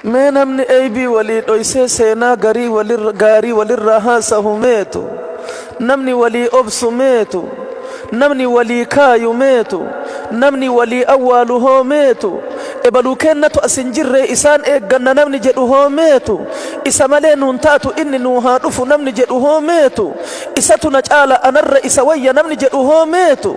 Mee namni eybii walii dhoysee seenaa garii walirra gaarii walirraa haasahu meetu? Namni walii obsu meetu? Namni walii kaayu meetu? Namni walii awwaalu hoo meetu? Ebaluu keennatu as hin jirree isaan eegganna namni jedhu hoo meetu? Isa malee nuun taatu inni nuu haa dhufu namni jedhu hoo meetu? Isatu na caala anarra isa wayya namni jedhu hoo meetu?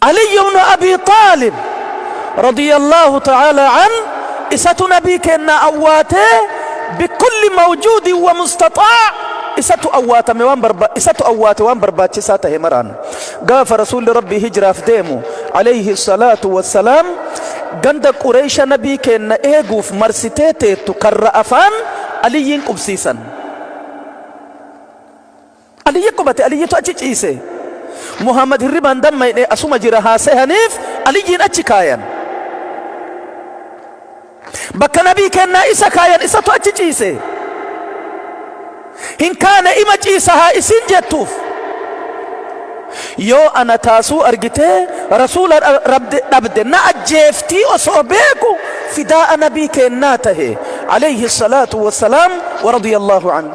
Aliyyu ibnu Abii Xaalib, radiyallaahu ta'aalaa anhu, Isatu Nabii keennaa awwaatee, bikulli mawjuudin wa mustaxaa' Isatu awwaatame waan barba, Isatu awwaate waan barbaachisaa tahe maraan. Gaafa Rasuulli Rabbii hijraaf deemu, aleyhi salaatu wa salaam, ganda Qureeysha Nabii keenna eeguuf marsitee teettu karra afaan Aliyyiin qubsiisan. Aliyyi qubate, Aliyyitu achi ciise. Muhammad hirribaan dammayne asuma jira haa sehaniif Aliyyiin achi kaayan. Bakka Nabii keennaa isa kaayan isatu achi ciise. Hin kaane ima ciisa haa isiin jettuuf. Yoo ana taasuu argitee Rasuula rabde dhabde na ajjeeftii osoo beeku fidaa'a Nabii keennaa tahe alayhi salaatu wassalaam wa radiyallahu anhu.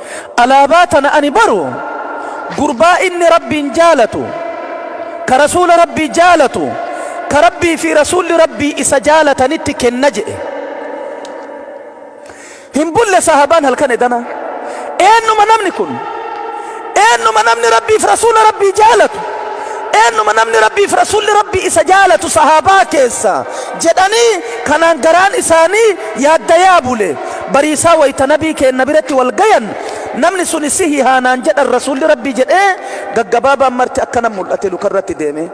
Alaabaa tana ani baru gurbaa inni Rabbiin jaalatu, ka Rasuula Rabbii jaalatu, ka Rabbii fi Rasuulli Rabbii isa jaalatanitti kenna je'e. Hin bulle sahaabaan halkan edana, Eennuma namni kun? Eennuma namni Rabbii fi Rasuula Rabbii jaalatu? Eennuma namni Rabbii fi Rasuulli Rabbii isa jaalatu sahaabaa keessaa? jedhanii kanaan garaan isaanii yaaddayaa bule. Bariisaa wayta nabii keenna biratti wal gayan namni suni sihihaa naan jedhan rasuulli rabbii jedhee gaggabaabaan marti akkana mul'ate lukarratti deemee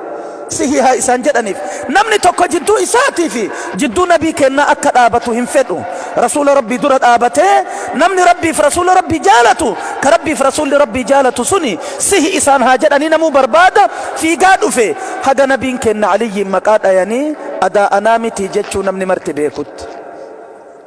sihihaa isaan jedhaniif namni tokko jidduu isaatii fi jidduu nabii keennaa akka dhaabatu hin fedhu rasuula rabbii dura dhaabatee namni rabbiif rasuula rabbii jaalatu ka rabbiif rasuulli rabbii jaalatu suni sihi isaan haa jedhanii namuu barbaada fiigaa dhufe haga nabiin keenna aliyyiin maqaa dhayanii adaa anaa mitii jechuu namni marti beekutti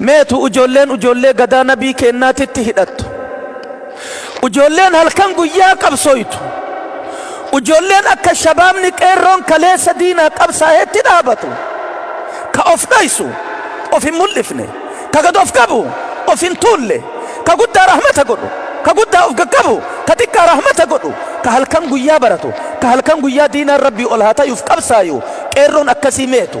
Meetu ujoolleen ujoollee gadaa nabii keennaa titti hidhattu? Ujoolleen halkan guyyaa qabsooytu? Ujoolleen akka shabaabni qeerroon kaleessa diinaa qabsaahetti dhaabatu? Ka of dhoysu, of hin mul'ifne, ka gad of qabu, of hin tuulle, ka guddaa rahmata godhu, ka guddaa of gaqqabu, ka xiqqaa rahmata godhu, ka halkan guyyaa baratu, ka halkan guyyaa diinaan Rabbii ol haa tayuuf qabsaayu qeerroon akkasii meetu?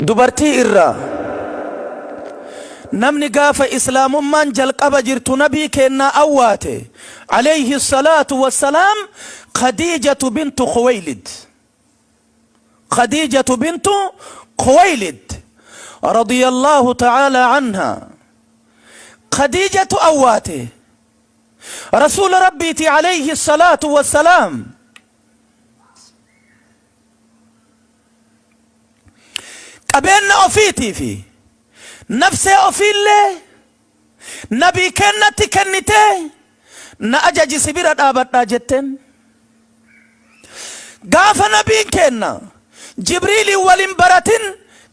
Dubartii irraa Namni gaafa Islaamummaan jalqaba jirtu Nabii keennaa awwaate, Aleyhi salaatu wa salaam, Khadiijatu bintu Khuweylid, Khadiijatu bintu Khuweylid, radiyallaahu ta'aalaa anhaa, Khadiijatu awwaate, Rasuula Rabbiiti, Aleyhi salaatu wa salaam, Qabeenna ofiitii fi nafsee ofiillee Nabii keennatti kennitee na ajaji si bira dhaabadhaa jetteen. Gaafa Nabiin keenna Jibriiliin wal hin baratin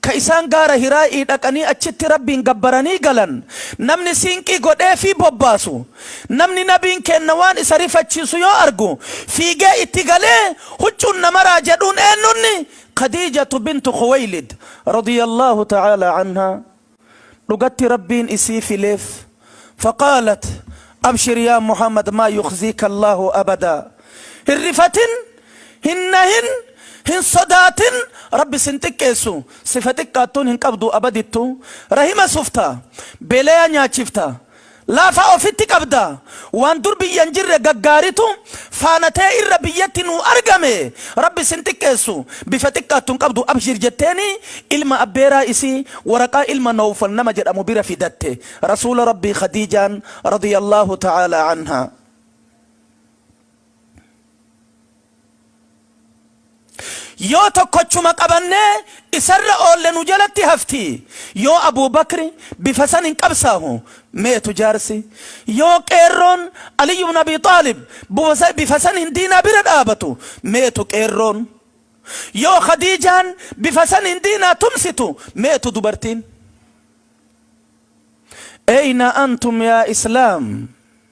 ka isaan gaara Hiraa'i dhaqanii achitti Rabbiin gabbaranii galan namni siinqii godheefii bobbaasu Namni Nabiin keenna waan isa rifachiisu yoo argu fiigee itti galee huccuun na maraa jedhuun eennunni? Khadiijatu bintu Khuweylid, radiyallaahu ta'aalaa anhaa, dhugatti Rabbiin isii fileef, faqaalat, Abshir yaa Muhammad maa yukhziika Allaahu abadaa, hin rifatin, hin nahin, hin sodaatin, Rabbi sin xiqqeessu, sifa xiqqaattuun hin qabdu abadittu, rahima sufta, beleya nyaachifta, Lafa ofitti qabda. Waan dur biyya hin jirre gaggaaritu faana tee irra biyyatti nuu argame. Rabbi sin xiqqeessu. Bifa xiqqaattu hin qabdu abshiir jetteeni ilma abbeeraa isii waraqaa ilma Nawfal nama jedhamu bira fidatte. Rasuula Rabbii Khadiijaan radiyallaahu ta'aalaa anhaa. Yoo tokkochuma qabannee isarra oolle nu jalatti hafti. Yoo Abuu Bakri bifa saniin qabsaahu meetu jaarsi? Yoo qeerroon Aliyyu bnu Abii Xaalib bifa saniin diinaa bira dhaabatu meetu qeerroon? Yoo Khadiijaan bifa saniin diinaa tumsitu meetu dubartiin? Eyna antum yaa Islaam?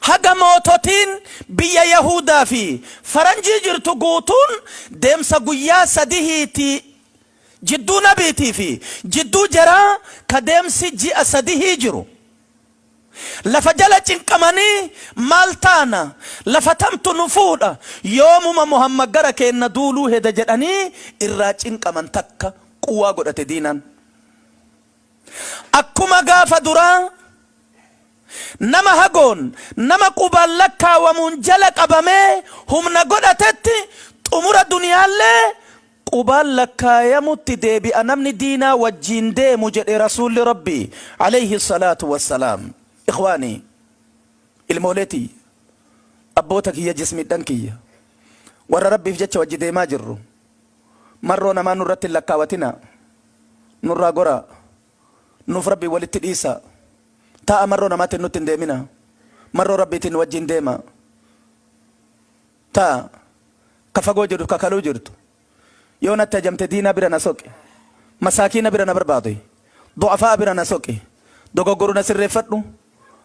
Haga moototiin biyya Yahuudaa fi Faranjii jirtu guutuun deemsa guyyaa sadihii ti, jidduu nabiitii fi jidduu jaraa ka deemsi ji'a sadihii jiru. Lafa jala cinqamanii, Maal taana? Lafa tamtu nu fuudha? Yoomuma Muhammad gara keenna duuluu heda jedhanii irraa cinqaman takka quwwaa godhate diinaan. Akkuma gaafa duraa nama hagoon nama qubaan lakkaawamuun jala qabamee humna godhatetti xumura duniyaallee qubaan lakkaayamutti deebi'a namni diinaa wajjiin deemu jedhe Rasuulli Rabbii, Aleyhi salaatu wassalaam. Ikhwaanii! Ilmoolee tiyya! Abboota kiyya jismiidhan kiyya! Warra Rabbiif jecha wajji deemaa jirru! Marroo namaa nurratti hin lakkaawatinaa. Nurraa goraa. Nuuf Rabbiin walitti dhiisaa. Taa'aa marroo namaatiin nutti hin deeminaa. Marroo Rabbiitiin nu wajjiin deemaa. Taa ka fagoo jirtu ka kaluu jirtu. Yoo natti ajamte diinaa bira na soqi. Masaakiina bira na barbaadi. Du'afaa'a bira na soqi. Dogoggoruu na sirreeffadhu.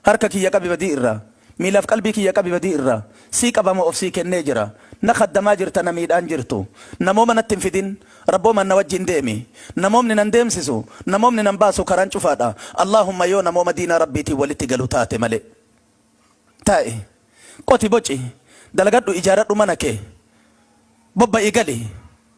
Harka kiyya qabi badii irraa. Miilaaf qalbii kiyya qabi badii irraa. Sii qabama of sii kennee jira. Na khaddamaa jirta na miidhaan jirtu. Namooma natti hin fidin. Rabboomaan na wajjiin deemi. Namoomni nan deemsisu, namoomni nan baasu karaan cufaadha. Allaahumma yoo namooma diinaa Rabbiitiin walitti galu taate malee. Taa'i. Qoti boci. Dalagadhu ijaaradhu mana kee. Bobba'i gali.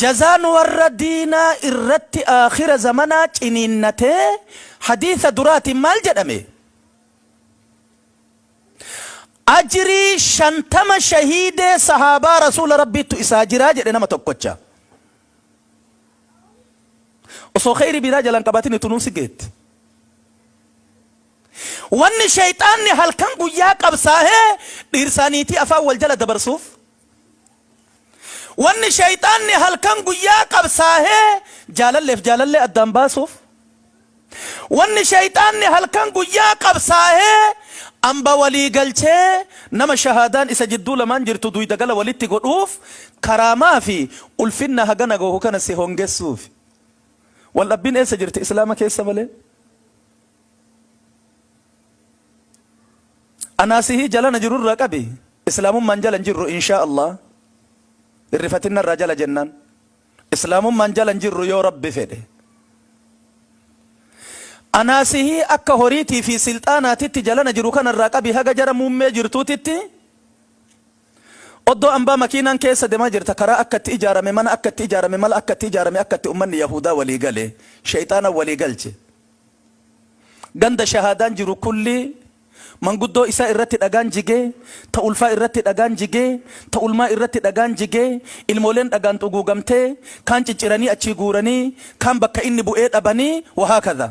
Jazaan warra diinaa irratti aakhira zamanaa ciniinnatee hadiisa duraatiin maal jedhame? Ajrii shantama shahiidee sahaabaa rasuula Rabbiittu isaa jira jedhe nama tokkocha. Osoo kheyri biraa jala hin qabatin itunuu si geetti. Wanni sheyxaanni halkan guyyaa qabsaahee dhiirsaa niitii afaan wal jala dabarsuuf Wanni sheyxaanni halkan guyyaa qabsaahee jaalalleef jaalallee addaan baasuuf, wanni sheyxaanni halkan guyyaa qabsaahee amba walii galchee nama shahaadaan isa jidduu lamaan jirtu duyda gala walitti godhuuf karaamaa fi ulfinna hagana gahu kana si hongessuufi. Waldhabbiin eessa jirti Islaama keessa malee? Anaa sihii jalana jiru irraa qabi islaamummaan jala hin jirru inshaa Allah hin rifatin narraa jala jennaan islaamummaan jala hin jirru yoo rabbi fedhe Anaa sihii akka horiitii fi silxaanaatitti jalana jiru kana irraa qabi haga jara muummee jirtuutitti oddoo ambaa makiinaan keessa demaa jirta karaa akka itti ijaarame mana akka itti ijaarame mala akka itti ijaarame akka itti ummanni yahuudaa walii gale sheyxaana walii galche Ganda shahaadaan jiru kulli manguddoo isaa irratti dhagaan jige, ta ulfaa irratti dhagaan jige, ta ulmaa irratti dhagaan jige, ilmooleen dhagaan xuguugamtee, kaan cicciranii achii guuranii, kaan bakka inni bu'ee dhabanii, wahakadha.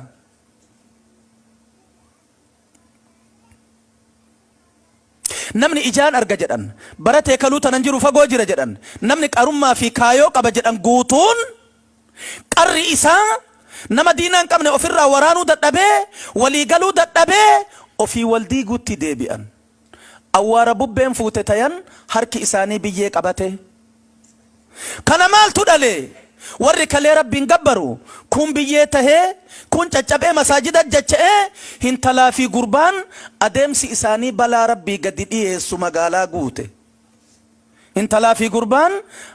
Namni ijaan arga jedhan, bara teekaluu tanan jiru fagoo jira jedhan, namni qarummaa fi kaayoo qaba jedhan guutuun qarri isaa nama diina hin qabne ofirraa waraanuu dadhabee, walii galuu dadhabee ofii wal diiguutti deebi'an. awwaara bubbeen fuute tayan harki isaanii biyyee qabate. Kana maaltu dhale? Warri kalee Rabbiin gabbaru kuun biyyee tahee, kuun caccabee masaajida dacha'e, hintalaa fi gurbaan adeemsi isaanii balaa Rabbii gadi dhiyeessu magaalaa guute. Intalaa fi gurbaan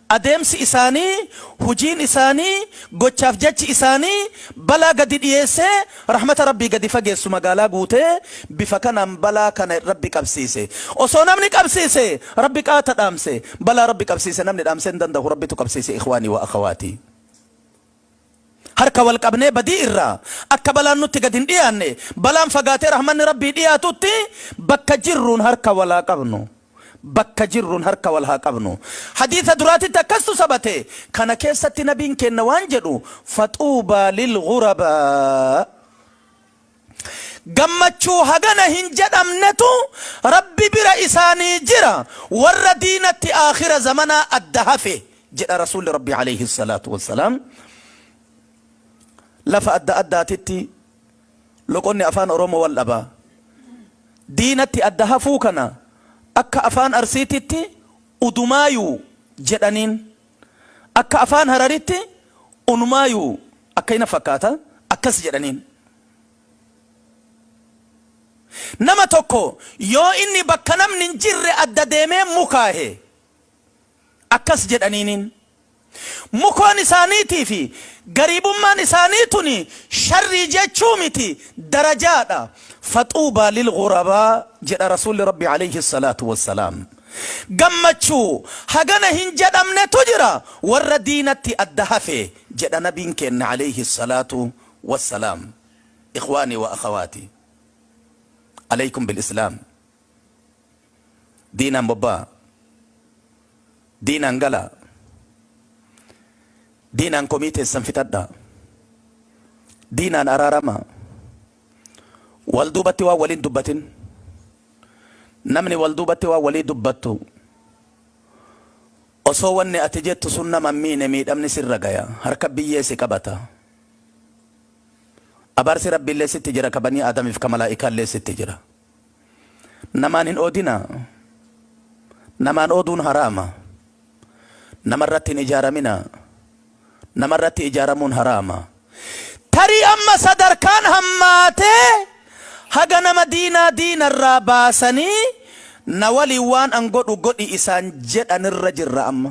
adeemsi isaanii, hujiin isaanii, gochaaf jechi isaanii balaa gadi dhiyeessee rahmata Rabbii gadi fageessu magaalaa guute, bifa kanaan balaa kana Rabbi qabsiise. Osoo namni qabsiise Rabbi qaata dhaamse, balaa Rabbi qabsiise namni dhaamsee hin dandahu Rabbitu qabsiise ikhwaanii wa akhawaatii. Harka wal qabnee badii irraa akka balaan nutti gad hin dhiyaanne, balaan fagaatee rahmanni Rabbii dhiyaatutti bakka jirruun harka wal haa qabnu. Bakka jirruun harka wal haa qabnu. Hadiisa duraatitti akkasstu sabate. Kana keessatti Nabiin keenna waan jedhu, Faxuubaa lilghurabaa. Gammachuu hagana hin jedhamnetu Rabbi bira isaanii jira, warra diinatti aakhira zamanaa adda hafe jedha Rasuulli Rabbii aleyhi salaatu wa salaam. Lafa adda addaatitti loqonni Afaan Oromoo wal dhaba. Diinatti adda hafuu kana akka Afaan Arsiititti Udumaayuu jedhaniin. Akka Afaan Hararitti Unumaayu akkasi na fakkaata akkas jedhaniin. Nama tokko yoo inni bakka namni hin jirre adda deemee mukaahe akkas jedhaniiniin. Mukoon isaaniitii fi gariibummaan isaanii tuni sharrii jechuu miti darajaadha. Faxuubaa lilghurabaa jedha Rasuulli Rabbii aleyhi salaatu wassalaam. Gammachuu hagana hin jedhamnetu jira warra diinatti adda hafe jedha nabiin keenna aleyhi salaatu wassalaam. Ikhwaanii wa akhawaati aleykum bil islaam diinaan bobba'a diinaan gala diinaan komii teessan fixadha diinaan araarama. Wal duubatti waan waliin dubbatin. Namni wal duubatti waan walii dubbattu osoo wanni ati jettu sun nama hin miine miidhamni sirra gaya. Harka biyyee si qabata. Abaarsi Rabbiillee sitti jira ka banii Aadamiif ka malaa'ikaallee sitti jira. Namaan hin oodinaa. Namaan ooduun haraama. Namarratti hin ijaaraminaa. Namarratti ijaaramuun haraama. Tarii amma sadarkaan hammaatee haga nama diinaa diinarraa baasanii na waliin waan an godhu godhi isaan jedhanirra jirra amma.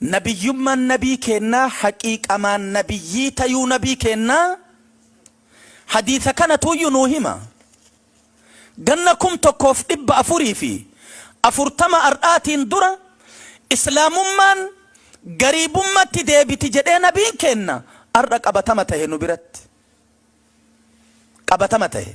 Nabiyyummaan nabii keennaa haqiiqamaan nabiyyii tayuu nabii keennaa hadiisa kanatuuyyu nuu hima. Ganna 1440 ar'aatiin dura islaamummaan gariibummatti deebiti jedhee nabiin keenna ar'a qabatama tahe nu biratti. Qabatama tahe.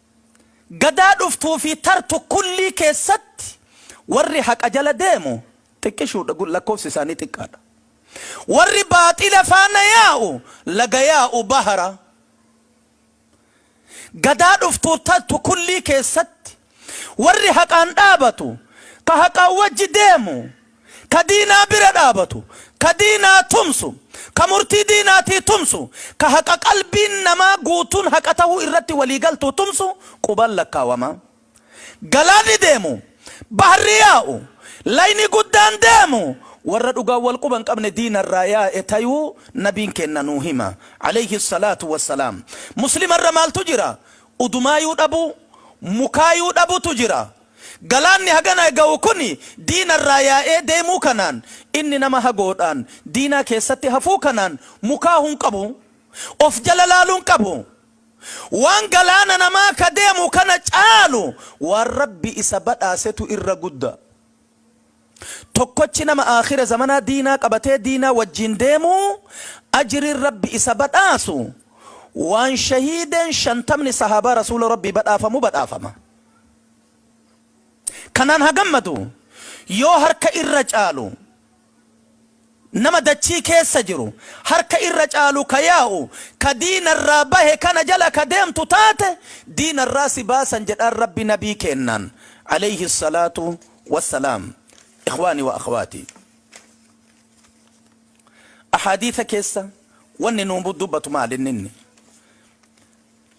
Gadaa dhuftuu fi tartu kullii keessatti warri haqa jala deemu xiqqishuu dha, lakkoofsi isaanii xiqqaa dha. Warri baaxila faana yaa'u laga yaa'u bahara. Gadaa dhuftuu tartu kullii keessatti warri haqaan dhaabatu, ka haqaan wajji deemu, ka diinaa bira dhaabatu, ka diinaa tumsu, ka murtii diinaatii tumsu, ka haqa qalbiin namaa guutuun haqa tahuu irratti walii galtuu tumsu qubaan lakkaawamaa. Galaanni deemu, baharri yaa'u, layni guddaan deemu warra dhugaan wal quba hin qabne diina irraa yaa'e tayuu Nabiin keenna nuu hima, aleyhi salaatu wa salaam. Muslima irra maaltu jira? Udumaayuu dhabuu, mukaayuu dhabutu jira. Galaanni hagana gahu kun diina irraa yaa'ee deemuu kanaan, inni nama hagoodhaan diinaa keessatti hafuu kanaan mukaahuu hin qabu. Of jala laaluu hin qabu. Waan galaana namaa ka deemu kana caalu waan Rabbi isa badhaasetu irra gudda. Tokkochi nama aakhira zamanaa diinaa qabatee diinaa wajjiin deemu ajriin Rabbi isa badhaasu waan shahiideen shantamni sahaabaa Rasuula Rabbii badhaafamu badhaafama. Kanaan haa gammadu! Yoo harka irra caalu nama dachii keessa jiru, harka irra caalu ka yaa'u, ka diina irraa bahe kana jala ka deemtu taate, diina irraa si baasan jedhaan Rabbi Nabii keennaan, aleyhi salaatu wassalaam. Ikhwaanii wa akhwaatii! Ahaadiisa keessa wanni nu dubbatu maal inni inni?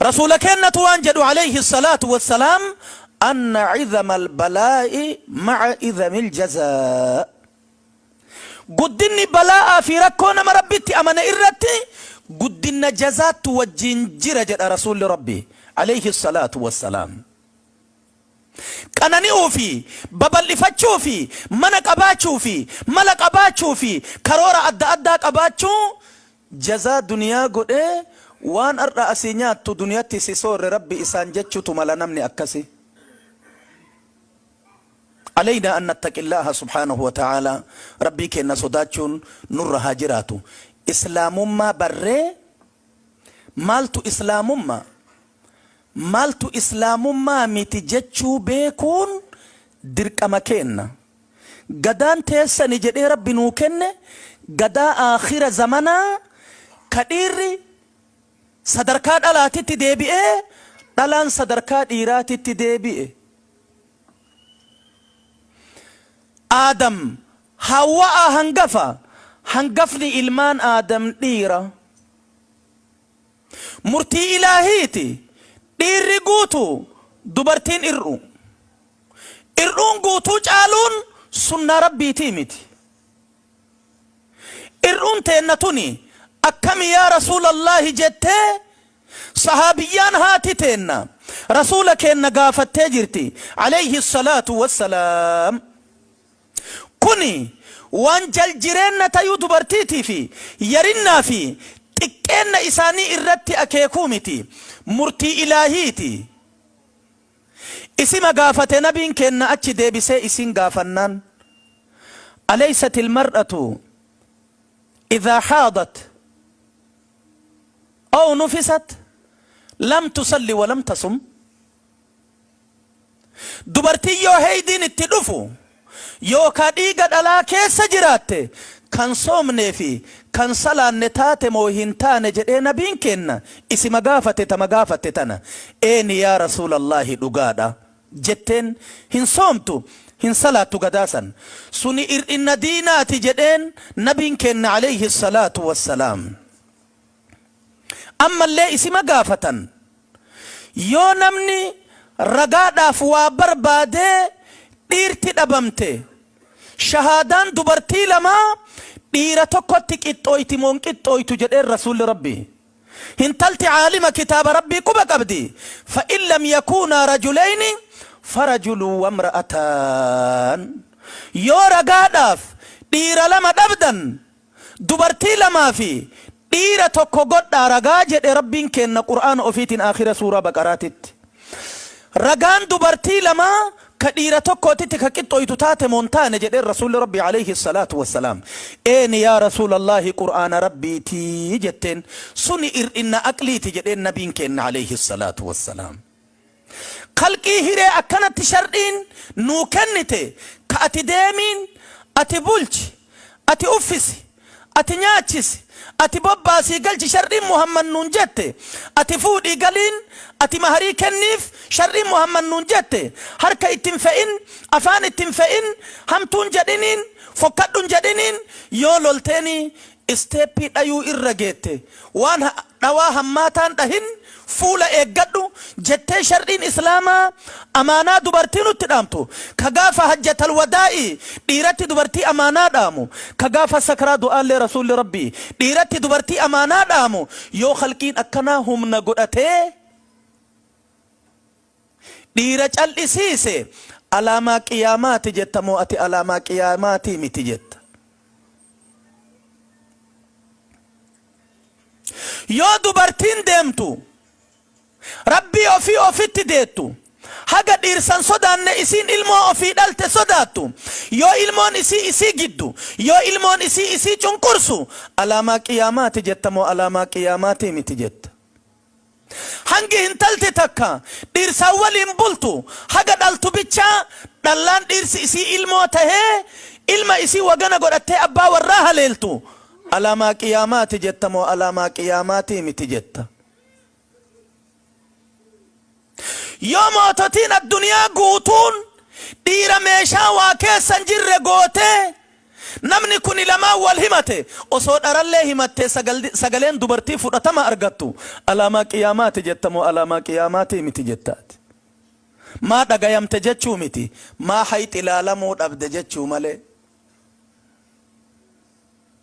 Rasuula keennatu waan jedhu aleyhi salaatu wassalaam anna izama albalaa'i ma'a izami aljazaa Guddinni bala'aa fi rakkoo nama Rabbitti amane irratti guddinna jazaattu wajjiin jira jedha Rasuulli Rabbii aleyhi salaatu wassalaam. qanani'uu fi babal'ifachuu fi mana qabaachuu fi mala qabaachuu fi karoora adda addaa qabaachuu jazaa duniyaa godhee waan ar'a asii nyaattu duniyatti si soorre rabbi isaan jechutu mala namni akkasi Aleynaa an nattaqillaaha subhaanahu wa ta'aalaa rabbii keenna sodaachuun nurra haa jiraatu islaamummaa barree maaltu islaamumma Maaltu Islaamummaa miti jechuu beekuun dirqama keenna. Gadaan teessani jedhee Rabbi nuu kenne gadaa aakhira zamanaa ka dhiirri sadarkaa dhalaatitti deebi'ee dhalaan sadarkaa dhiiraatitti deebi'e. Aadam, Haawwa'aa hangafa, hangafni ilmaan Aadam dhiira. Murtii Ilaahiiti. Dhiirri guutu, dubartiin ir'uu. Ir'uun guutuu caaluun sunnaa Rabbiitii miti. Ir'uun teenna tuni akkami yaa Rasuulallaahi jettee sahaabiyyaan haati teenna Rasuula keenna gaafattee jirti, aleyhi salaatu wassalaam. Kun waan jal-jireenna tayuu dubartiitii fi yarinnaa fi xiqqeenna isaanii irratti akeekuu miti, murtii Ilaahiiti. Isima gaafate Nabiin keenna achi deebisee isiin gaafannaan, Aleysatil mar'atu idhaa haadat aw nufisat lam tusalli wa lam tasum? Dubartiin yoo heydiin itti dhufu yookaa dhiiga dhalaa keessa jiraatte kan soomnee fi kan salaanne taate moo hin taane jedhee nabiin keenna isima gaafate tama gaafatte tana eeni yaa rasuulallaahi dhugaadha jetteen hin soomtu hin salaattu gadaa san suni ir'inna diinaati jedheen nabiin keenna aleyhi salaatu wassalaam. Ammallee isima gaafatan, Yoo namni ragaadhaaf waa barbaadee dhiirti dhabamte, shahaadaan dubartii lamaa dhiira tokkotti qixxooyti moo hin qixxooytu jedheen Rasuulli Rabbii, Hintalti aalima kitaaba Rabbii quba qabdi, fa'in lam yakuunaa rajuleyni farajulun wamra'ataan, Yoo ragaadhaaf dhiira lama dhabdan, Dubartii lamaa fi dhiira tokko godhaa ragaa jedhe Rabbiin keenna Qur'aana ofiitiin aakhira suuraa Baqaraatitti. Ragaan dubartii lamaa ka dhiira tokkootitti ka qixxooytu taate moo hin taane jedheen Rasuulli Rabbii aleyhi salaatu wa salaam. Eeni yaa Rasuulallaahi Qur'aana Rabbiiti jetteen. Suni ir'inna aqliiti jedheen Nabiin keenna aleyhi salaatu wa salaam. Khalqii hiree akkanatti shar'iin nuu kennite ka ati deemiin ati bulchi, ati uffisi, ati nyaachisi, ati bobbaasii galchi shar'iin Muhammad nuun jette, ati fuudhii galiin, ati maharii kenniif shar'iin Muhammad nuun jette, harka itti hin fe'in, afaan itti hin fe'in, hamtuun jedhiniin, fokkadhun jedhiniin, yoo lolteenii Isteeppii dhayuu irra geette. Waan ha, dhawaa hammaataan dhahin, fuula eeggadhu, jettee shar'iin Islaamaa amaanaa dubartii nutti dhaamtu, ka gaafa hajjatal wadaa'ii dhiiratti dubartii amaanaa dhaamu, ka gaafa sakraa du'aallee Rasuulli Rabbii dhiiratti dubartii amaanaa dhaamu, yoo khalqiin akkanaa humna godhatee, Dhiira cal'isiise alaamaa qiyaamaati jetta moo ati alaamaa qiyaamaatii miti jetta? Yoo dubartiin deemtu Rabbii ofii ofitti deettu haga dhiirsan sodaanne isiin ilmoo ofii dhalte sodaattu yoo ilmoon isii isii giddu yoo ilmoon isii isii cunqursu alaamaa qiyaamaati jetta moo alaamaa qiyaamaatii miti jetta? Hangi hintalti takka dhiirsaan waliin bultu haga dhaltu bicha dhallaan dhiirsi isii ilmoo tahee ilma isii wagana godhattee abbaa warraa haleeltu alaamaa qiyaamaati jetta moo alaamaa qiyaamaatii miti jetta? Yoo moototiin adduniyaa guutuun dhiira meeshaa waa keessa hin jirre gootee namni kuni lamaan wal himate osoo dharallee himattee sagaleen dubartii fudhatama argattu alaamaa qiyaamaati jetta moo alaamaa qiyaamaatii miti jetta ati? Maa dhagayamte jechuu miti maa hayxi laalamuu dhabde jechuu malee.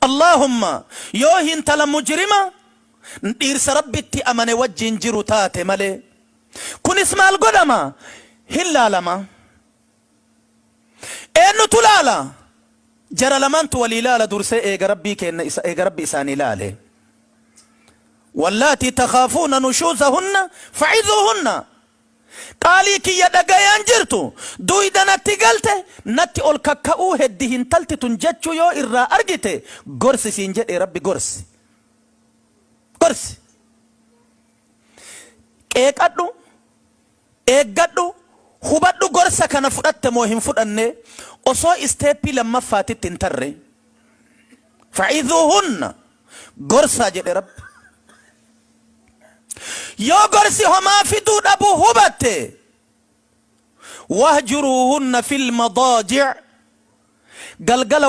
Allahumma yoo hintala mujirima dhiirsa rabbitti amane wajjiin jiru taate malee kunis maal godhama hin laalama eennutu laala jara lamaantu walii laala dursee eega rabbii keenna isa eega rabbi isaanii laale wallaatii takhaafuuna nushuuzahunna fa'izuuhunna Qaalii kiyya dhagayaan jirtu duyda natti galte natti ol kakka'uu heddi hintalti tun jechuu yoo irraa argite gorsi siin jedhee rabbi gorsi gorsi qeeqadhu eeggadhu hubadhu gorsa kana fudhatte moo hin fudhanne osoo isteeppii lammaffaatitti hin tarre fa'idhuuhunna gorsaa jedhe Rabbi. Yoo gorsi homaa fiduu dhabu hubatte wahjuruuhunna fil madaaji' galgala